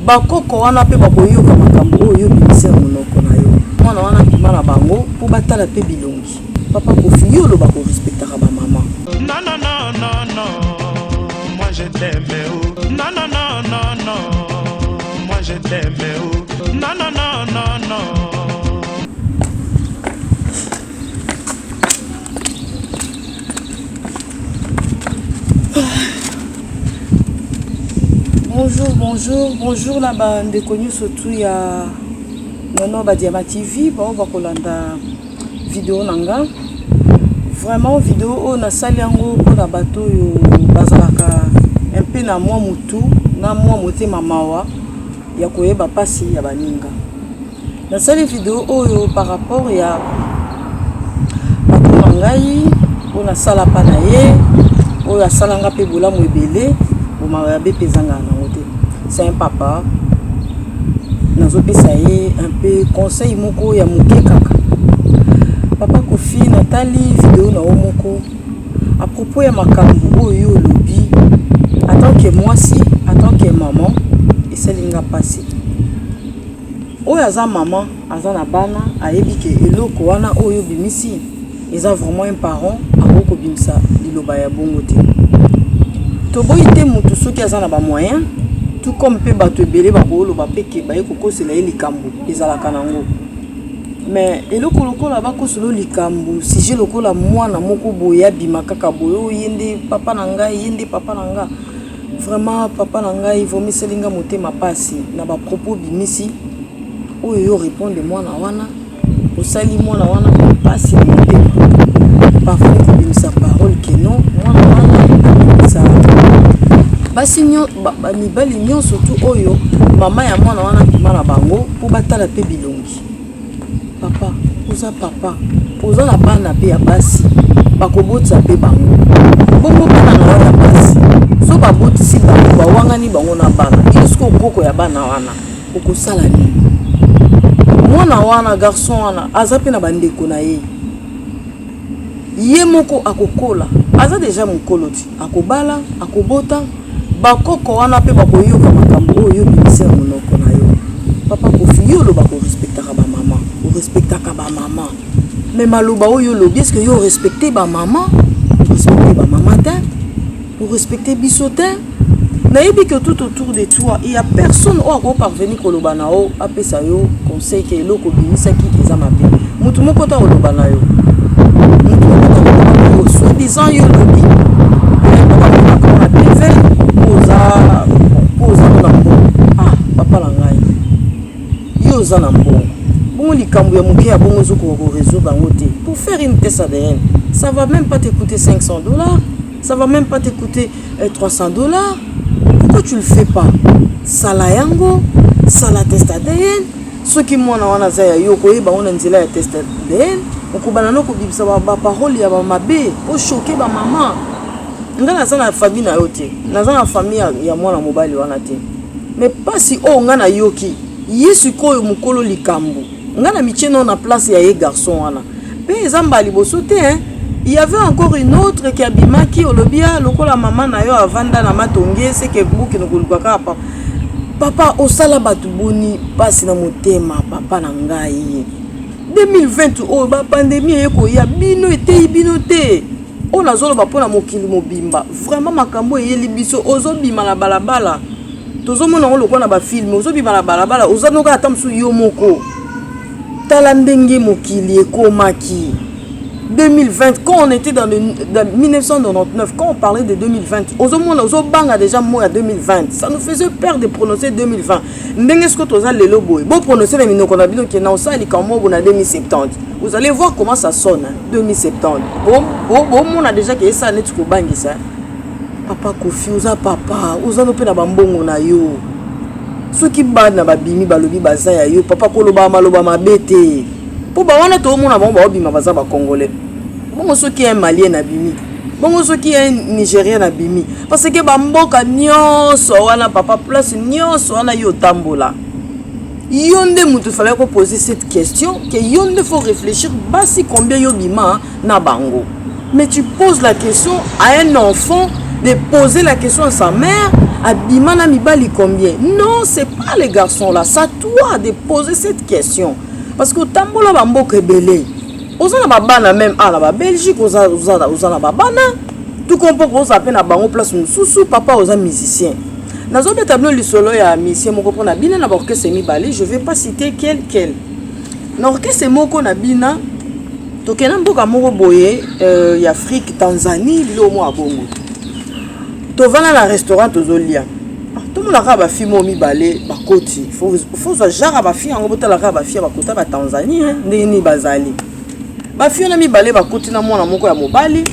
Bakoko wana mpe bakoyoka makambo oyo yo obimisi na monoko na yo. Mwana wana abima na bango mpo batala mpe bilongi. Papa Koffi, yo oloba ko respectaka ba mama. Non non non non non moi je t'aime oh non non non non non moi je t'aime oh non non non non non bonjour bonjour bonjour na bandeko nyonso tu ya nono badiama tv baoyo bakolanda video na nga vraiment video oyo nasali yango mpona bato oyo bazalaka mpe na mwa motu na mwa motema mawa ya koyeba mpasi ya baninga nasali video oyo par rapport ya patron na ngai oyo nasala mpa na ye oyo asala nga mpe bolamu ebele bomawa ya bepe ezanga nango te se un papa nazopesa ye un peu conseil moko ya moke kaka papa kofi natali video na yo moko à propos ya makambo oyo olobi atant que mwasi atant que maman esali nga mpasi Oyo aza maman aza na bana ayebi ke eloko wana oyo obimisi eza vraiment un parent akoki kobimisa liloba ya bongo te toboyi te mutu soki aza na ba moyen tout comme pe batu ebele bakoloba pe ke baye kokosela ye likambo ezalaka na ngo mais eloko lokola bakoselo likambo sujet lokola mwana moko boye abima kaka boye oyo yende papa na nga yende papa na nga Vraiment papa na ngai vomiseli nga motema pasi na ba propos bimisi oyo yo repondre mwana wana osali mwana wana pasi na motema parfois kobimisa parole que non mwana wana abimisa basi mibali nyonso tu oyo mama ya mwana wana abima na bango mpo batala mpe bilongi Papa oza papa oza na bana pe ya basi bakobotisa pe bango bongo bana na wana basi so babotisi bango bawangani bango na bana yo soki okoko ya bana wana okosala nini mwana wana garçon wana aza pe na bandeko na ye yemoko akokola aza dejà mukolo ti akobala akobota ba koko wana pe bakoyoka makambu oyo yo obimisi na munoko nayo papa koffi yo olobaka o respectaka ba maman o respectaka ba maman mais maloba oyo olobi est ce que yo o respecte ba maman o respecte ba maman tein. o respecter biso te nayebi que tout autour de toi il y a personne oyo akoki parvenir koloba na yo apesa yo conseil ke eloko obimisaki eza mabe motu moko te akoloba na yo motu moko te akoloba na yo soit disant yo lobi oza na mbongo bongo likambo ya moke ya bongo ozokoka koresoudre yango te pour faire une test adn ça va même pas te coûter 500 dollars ça va même pas te coûter 300 eh, dollars pourquoi tu le fais pas sala yango sala test adn soki mwana wana aza ya yo okoyeba ngo na nzela ya test adn okobana no kobimisa baparole ya bamabe oshoke bamama nga naza na famille na yo te naza na famille ya mwana mobali wana te mais mpasi oyo nga nayoki ye sikoyo mokolo likambo Nga na mitie nao na place ya ye garçon wana pe eza mbala liboso te hein. Il y avait encore une autre qui abimaki olobi ah lokola maman na yo avanda na matonge ce que mbuki nokoluka kaka papa papa osala bato boni mpasi na motema papa na ngai 2020 oyo bapandemi eye koya bino eteyi bino te oyo nazoloba mpo na mokili mobimba vraiment makambo eyeli biso ozobima na balabala tozomona yango lokola na bafilme ozobima na balabala oza noka ata mosusu yo moko tala ndenge mokili ekomaki 2020 quand on était dans, le, dans 1999 quand on parlait de 2020 ozomona ozobanga déjà mot ya 2020 ça nous faisait peur de prononcer 2020 ndenge siko toza lelo boye boprononce na minoko na bino ke na osala likambo moko na 2070 vous allez voir comment ça sonne 2070 bomona déjà ke esala neti kobangisa Papa Koffi oza papa oza no pe na ba mbongo na yo soki bana babimi balobi baza ya yo papa koloba maloba mabe te mpo bawana toomona bango baobima baza bacongolais bongo soki un malien abimi bongo soki un nigérien abimi parce que bamboka nyonso wana papa place nyonso wana yo otambola yo nde moto fallaki kopose cette question ke yo nde faut réfléchir basi combien yo bima na bango mais tu poses la question à un enfant de poser la question à sa mère abima na mibali combien non c'est pas les garçons là ça toi de poser cette question parce que otambola bamboka ebele oza na babana meme ala ba belgique oza, oza, oza na babana tout comprend koza mpe na bango place mosusu papa oza musicien nazobeta bino lisolo ya misie moko mpona bina na baorchestre mibale je vais pas citer quel quel na orchestre moko na bina tokenda mboka moko boye euh, ya afrique tanzanie biloko moko ya bongo tovanda na restaurant tozolia ah, tomona kaka bafilme oyo mibale bakoti fozwa jara bafilme yango botala kaka bafilme bakota batanzanie eh, ndenge nini bazali bafilme na mibale bakoti na mwana moko ya mobali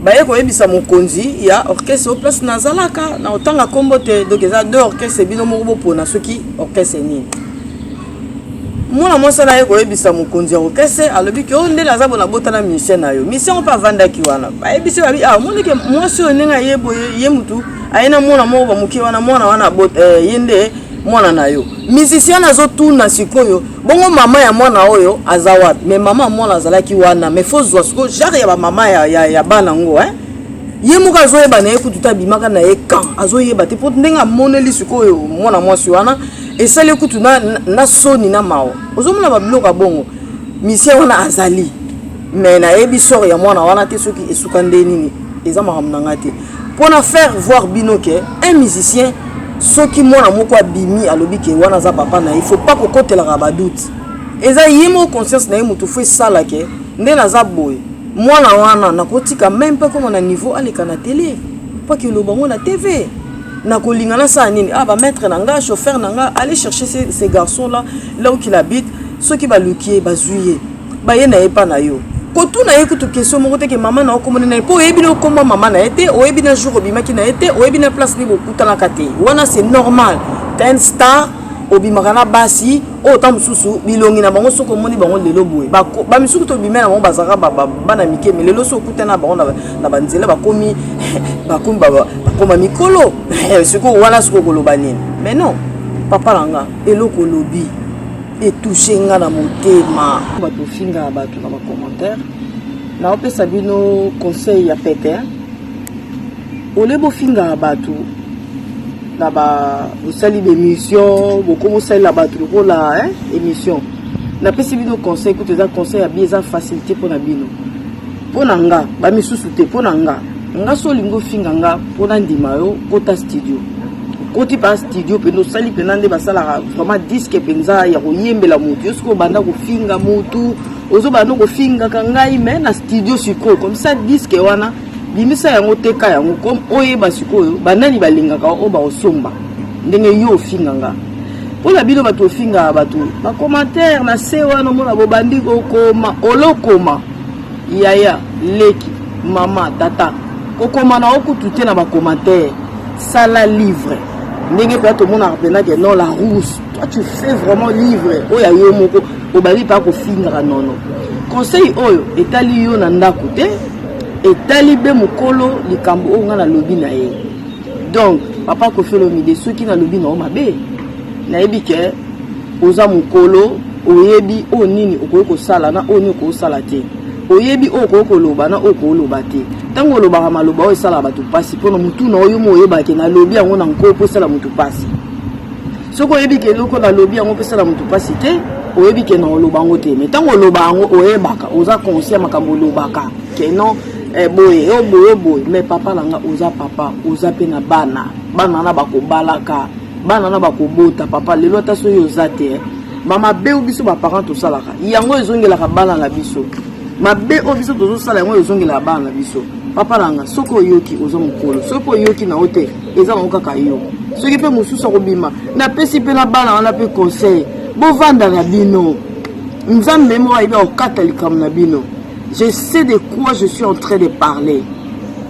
baye koyebisa mokonzi ya orchestre oyo place nazalaka na otanga nkombo te donc eza deux orchestre bino moko bopona soki orchestre nini mwana mwasi wana aye koyebisa mokonzi ya orkestre alobi ke oyo oh, ndele aza bona bota na musicien na yo musicien oyo mpe avandaki wana bayebisi babi ah, omoni ke mwasi oyo ndenge aye boye ye motu aye na mwana moko bamoke wana mwana wana abota eh, ye nde mwana na yo musicien wana azotuna sikoyo bongo mama ya mwana oyo aza wapi me mama ya mwana azalaki wana me fo zwa sikoyo genre ya bamama ya, ya, ya bana yango eh? ye moko azoyeba na ye kutu ta abimaka na ye kan azoyeba te mpo ndenge amoneli sikoyo mwana mwasi wana esali kutu na, na, na soni na mawa ozomona babiloko ya bongo misie wana azali me nayebi sor ya mwana wana te soki esuka nde nini eza makambo na ngai te mpo na faire voir bino ke un musicien soki mwana moko abimi alobi ke wana aza papa na ye faut pas kokotelaka badoute eza ye moko conscience na ye moto fo esala ke nde naza boye mwana wana nakotika meme mpe koma na niveau aleka na tele mpo akeloba yango na tv nakolinga nasala nini ah ba maître na nga chauffeur na nga aller chercher ces, ces garçons là là où qu'il habite soki baluki ye bazwi ye baye na ye epa na yo kotuna ye kutu question moko te ke mama na okomona na ye mpo oyebi na okoma mama na ye te oyebi na jour obimaki na ye te oyebi na place nde bokutanaka te wana c'est normal ten star obimaka na basi oyo ntango mosusu bilongi na bango soki omoni bango lelo boye bamisusu tobime na bango bazalaka bana mike me lelo soki okutani na bango na banzela bakomi bakomi bakoma mikolo sikoyo wana soki okoloba nini mais non papa na nga eloko olobi etouche nga na motema bato ofingaka bato na bacommentaire naopesa bino conseil ya pete Au lieu bofingaka bato na ba bosali bemission bokomi osalela bato lokola émission napesi bino conseil kutu eza conseil ya bi eza facilité mpo na bino mpo na nga bamisusu te mpo na nga nga so olingi ofinga nga mpo nandima yo kota studio okoti mpa studio mpenza osali mpenza nde basalaka vraiment diske mpenza ya koyembela motu yo soki obanda kofinga motu ozobanda kofingaka ngai mai na studio sikoyo komisa diske wana bimisa yango teka yango comme oyeba sikoyo banani balingaka oyo baosomba ndenge yo ofinga nga mpo na bino bato ofingaka bato bacommentaire na se wana omona bobandi kokoma olokoma yaya leki mama tata kokoma na okutu te na bacommentaire sala livre ndenge mpenza tomonaka mpenza ke non la rousse toi tu fais vraiment livre oyo ya yo moko obandi mpenza kofingaka nono conseil oyo etali yo na ndako te etali be mokolo likambo oyo ngai nalobi na ye donc papa kofi olomide soki nalobi na yo mabe nayebi ke oza mokolo oyebi oyo nini okoki kosala na oyo nini okosala te oyebi oyo okoki koloba na oyo koloba te ntango olobaka maloba oyo esalaka bato mpasi mpo na motu na oyo mo oyebake nalobi yango na nko mpo esala motu mpasi soki oyebi ke eloko nalobi yango opesala moto mpasi te oyebi ke na oloba yango te mai ntango oloba yango oyebaka oza conscient makambo olobaka ke non eh, boye yo oh, boye oh, boye mai papa na nga oza papa oza mpe na bana bana na bakobalaka bana na bakobota papa lelo ata soki oza te eh. bamabe oyo biso baparent tosalaka yango ezongelaka bana na biso mabe oyo biso tozosala yango ezongelaka bana na biso papa na nga soki oyoki oza mokolo soki oyoki na yo te eza yango kaka yo soki mpe mosusu akobima napesi mpe na bana wana mpe conseil bovanda na bino nzambe moko ayebi akokata likambo na bino je sais de quoi je suis en train de parler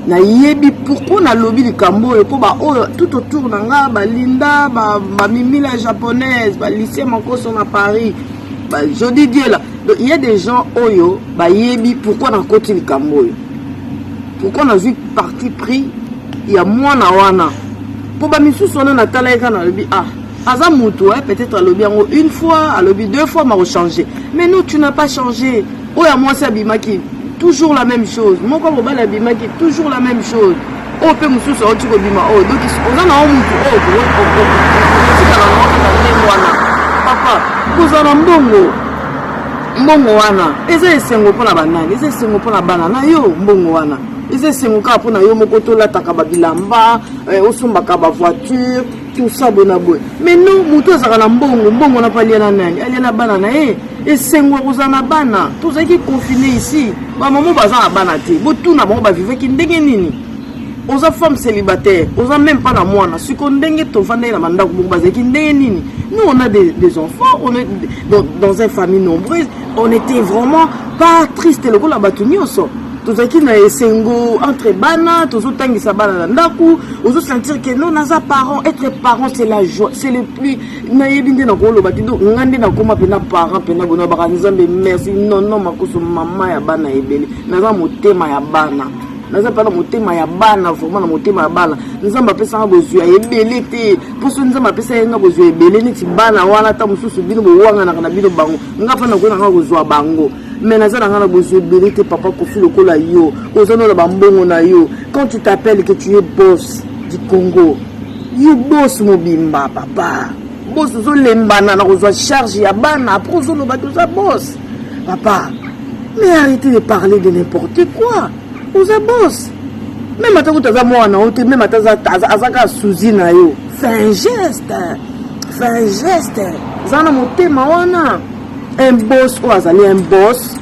nayebi pourkui nalobi likambo oyo mpo baoyo tout autour na nga balinda bamimila ba japonaise balisie makoso na paris jodi diela donc il y a des gens oyo bayebi pourkui nakoti likambo oyo pourkui nazwi parti pris ya mwana wana mpo bamisusu wana natalaki kaka nalobi ah aza mutu eh, peut-être alobi yango une fois alobi deux fois makochange mais non tu n'as pas changé oyo ya mwasi abimaki toujours la même chose moko mobali abimaki toujours la même chose oyo oh, mpe mosusu auti kobima oyo oh, donc oza na o mutu oyo otikala na okaka ndenge wana papa kozala na mbongo mbongo wana eza esengo mpo na banani eza esengo mpo na bana na yo mbongo wana eza esengo kaka mpo na yo moko tolataka babilamba eh, osombaka bavoiture tout ça bona boye mais non moto azalaka na mbongo mbongo na mpe alia na nani alia na bana na ye esengo ya kozala na bana tozalaki confine ici bamamo baza na bana te botuna bango bavivaki ndenge nini oza femme célibataire oza même pas na mwana siko ndenge tofandaki na bandako moko bazalaki ndenge nini nous on a des, des enfants on est dans, dans une famille nombreuse on était vraiment pas triste lokola bato nyonso tozalaki na esengo entre bana tozotangisa bana na ndako ozosentir ke no naza parent etre parent c'est la joie c'est le plus nayebi nde nakoloba te donc nga nde nakoma mpena parent mpena bona baka nzambe merci nono makoso mama ya bana ebele naza motema ya bana naza mpe na motema ya bana vraiment na motema ya bana nzambe apesanga bozwi ya ebele te mpo soki nzambe apesa ye nga bozwi ya ebele neti bana wana ata mosusu bino bowanganaka na bino bango nga mpe nakoki nanga kozwa bango mais naza na nga na bozwi ebele te papa kofi lokola yo oza no na bambongo na yo quand tu t'appelles que tu es boss du congo yo boss mobimba papa boss ozolembana na kozwa charge ya bana apres ozoloba te oza boss papa mais arrêtez de parler de n'importe quoi oza boss meme ata kutu aza mwana yo te meme ata aza kaka suzi na yo fin geste fin geste zana motema wana un boss oyo azali un boss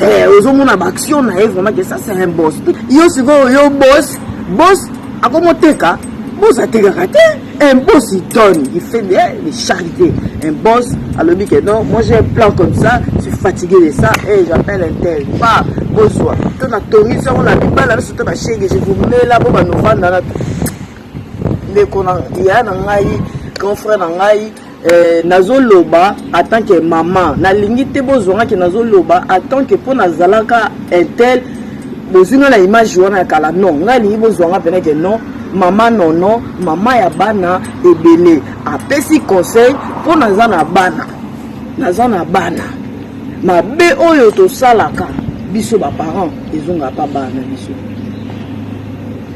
eh, ozomona baaction na ye vraiment ke ça c'est un boss yo sikoyo yo boss boss akomoteka boss atekaka te un boss il donne il fait de les charité un boss alobi ke non moi j'ai un plan comme ça je suis fatigué de ça et eh, j'appelle un tel pa bozwa to na tongi sango na mibala biso to bashege je vous mela bo banovanda na ndeko na ya na ngai grand frère na ngai Eh, nazoloba atant que maman nalingi te bozwanga ke nazoloba atant que mpo nazalaka intel bozwi nga na image wana ya kala non ngai alingi bozwanga mpena ke non mama nono mama ya bana ebele apesi conseil mpo naza na bana naza na bana mabe oyo tosalaka biso baparent ezongaka mpa bana na biso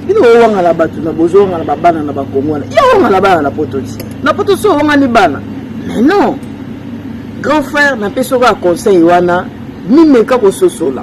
bino bowangana bato na bozowangana babana na bakongo wana ye owangana bana na poto ti na poto so owangani bana mais non grand frère napesi okoya conseil wana mimeka kososola